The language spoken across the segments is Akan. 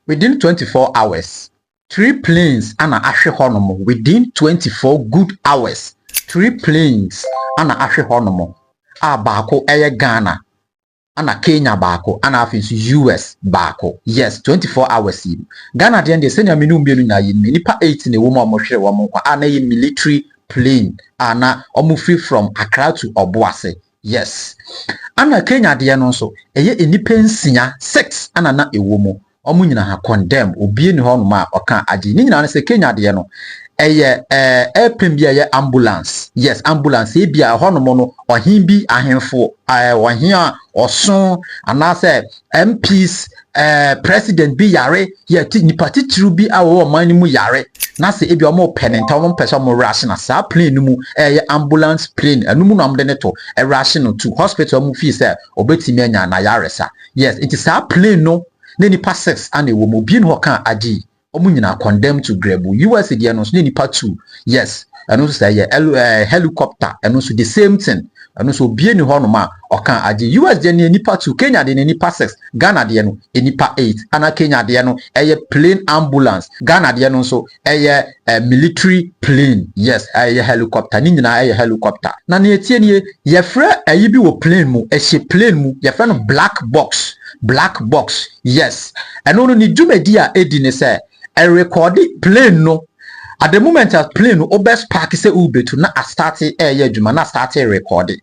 Within twenty four hours three planes ana ahwe hɔ nom Within twenty four good hours three planes ana ahwe hɔ nom a baako yɛ Ghana ana Kenya baako ana afei nso US baako yes twenty four hours yi mu Ghana deɛ deɛ sɛnea mene mmienu nyinaa yɛ nim nnipa eight na ɛwɔ mu a wɔhwere wɔn nkwa a na ɛyɛ military plane a na wɔfiri from Accra to Ɔboase Yes. Ana Kenya adeɛ no nso ɛyɛ nnipa nsia, six, ana na ɛwɔ mu. Ɔmo nyina ha condemn, obie nni hɔ nom a ɔka agye. Ne nyina ne sɛ Kenya adeɛ no ɛyɛ ɛɛ airplane bi a ɛyɛ ambulance, yes ambulance, ebia ɛhɔ nom no ɔhen bi ahenfo ɛɛ ɔhen a ɔso anaasɛ MPs, eh, president bi yare yɛ ti nipa titiriw bi a wɔwɔ ɔman no mu yare na sɛ ebi wɔn pɛ ne nta wɔn mpɛ sɛ wɔn wura ahye na saa plane no mu ɛyɛ ambulance plane ɛno mu na wɔn de ne to ɛwura ahye no to hospital mu fii sɛ ɔbɛtumi anya na yare sa yes nti saa plane no ne nipa six ana ɛwɔ mu obi ne hɔ ka agye Ɔmo nyinaa condemn to grɛbu. US deɛ no nso nyɛ nipa two yes ɛno nso sɛɛ yɛ ɛlo ɛɛ helicopter ɛno nso the same thing ɛno nso obie ni hɔ nom a ɔka agye US deɛ no yɛ nipa two Kenya deɛ no yɛ nipa six Ghana deɛ no yɛ nipa eight ana Kenya deɛ no ɛyɛ plane ambulance Ghana deɛ no nso ɛyɛ ɛɛ military plane yes ɛyɛ helicopter ne nyinaa ɛyɛ helicopter na nea etie nie yɛfrɛ ɛyi bi wɔ plane mu ɛhyɛ plane mu yɛfrɛ no black box black box. Yes, ɛno no ne dwumadi a edi ne sɛ ɛrekɔɔde plane no, at the moment a plane no wobɛ sparke sɛ worebetu na astarte ɛreyɛ adwuma na astarte ɛrekɔɔde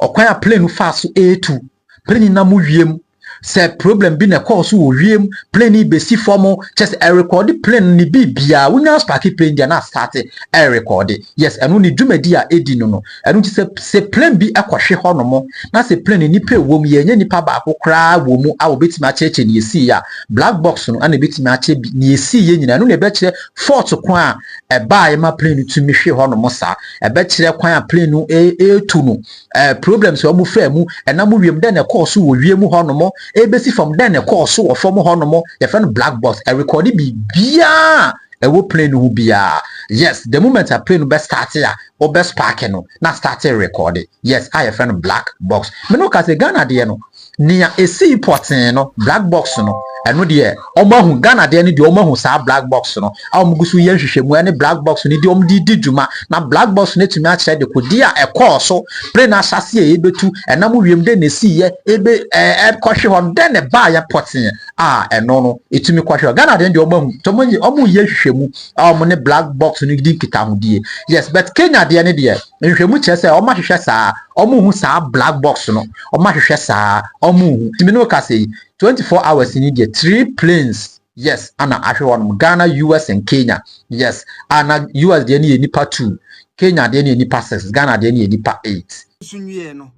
ɔkwan a plane no faa so ɛretu, plane no nam wiem, sɛ problem bi na ɛkɔɔ so wɔ wiem, plane no rebesi fam, kyɛ sɛ ɛrekɔɔde plane no ne biribiara, wonya sparke plane deɛ na astarte ɛrekɔɔde, yes, ɛno ne dwumadi a edi no no, Ɛno nti sɛ sɛ plane bi kɔhwe hɔnom na sɛ plane no nnipa a ɛwɔ mu yi ɛnyɛ nipa baako koraa wɔ mu a wɔbɛtumi akyerɛkyerɛ nea ɛsiiɛ a, black box no na ɛbɛtumi akyerɛ bi nea ɛsiiɛ nyinaa. Ɛno na ɛbɛkyerɛ fault kwan a ɛbaeɛ ma plane no tumi hwe hɔnom saa. Ɛbɛkyerɛ kwan a plane no retu no, eh, problems a wɔfaa mu, ɛnam wiem dɛn na ɛkɔɔ so wɔ wiem hɔnom, ɛrebɛsi fam dɛn na ɛkɔɔ so wɔ fam hɔnom. Yɛfrɛ no black box. Ɛrekɔde biribiara a ɛwɔ plane no ho biara. Yes, the moment a plane no bɛstarte a, wo bɛ sparke no na starte rekɔɔde yes a yɛfrɛ no black box me ne wo ka sɛ Ghana deɛ no nea ɛsii pɔtee no black box no ɛno deɛ wɔn ahu Ghana deɛ no deɛ wɔn ahu saa black box no a wɔn gu so yɛ nhwehwɛmu ɛne black box no deɛ wɔn de di dwuma na black box no atumi akyerɛ de kodi a ɛkɔɔ so pere na ahyase a ɛbɛtu ɛnam wiem de na ɛsii yɛ ɛbɛ ɛɛ ɛkɔhwe hɔ no dɛn na ɛbaa yɛ pɔtee a ɛno no ɛtumi kɔhwe hɔ Ghana deɛ no deɛ wɔn ahu tɔmɔ yi wɔn yɛ nhwehwɛmu a wɔn ne black box no di nkitahodie yes but Kenya deɛ ne deɛ nhwɛmu kyerɛ sɛ wɔn ahwehwɛ saa wɔn hu saa black box no wɔn ahwehwɛ saa wɔn hu nti me ne wo kasa yi twenty four hours ni deɛ three planes yes ana ahwe wɔn Ghana US and Kenya yes ana US deɛ ne yɛ nipa two Kenya deɛ ne yɛ nipa six Ghana deɛ ne yɛ nipa eight. nso nwie no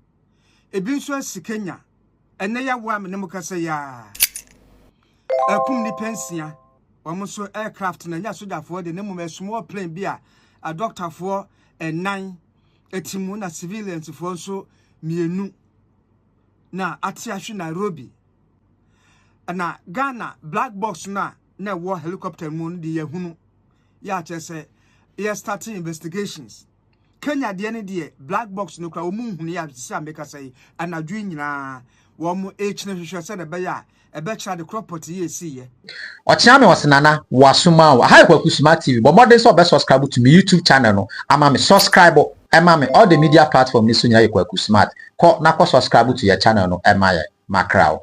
ebi nso asi Kenya. Ɛnɛ yɛawo a me ne mo kasa yi ara akum nnipa nsia wɔn nso aircraft na ɛnyɛ sogyafoɔ de ne mmom ɛsomɔ plane bi a adɔktafoɔ ɛnan ɛti mu na civiliansfoɔ nso mmienu na ate ahwe Nairobi na Ghana black box no a na ɛwɔ helicopter mu no de yɛhunu yɛakyɛ sɛ yɛ starting investigations Kenya deɛ no deɛ black box no kora wɔn nhunu yɛ sisi a mekasa yi anadwo yi nyinaa wɔn rekyerɛ hwehwɛ sɛ na ɛbɛyɛ a ɛbɛkyerɛ ade korɔ pɔte yi esi yɛ. Ɔkyea me ɔse Nana woasom ao. Aha yɛ Kwaku Suma TV bɔ mmɔden sɛ ɔbɛ subscribe to me YouTube channel no ama me subscribe ma me all the media platform no so nyinaa yɛ Kwaku Smat kɔ na kɔ subscribe to yɛ channel no ma yɛn makra o.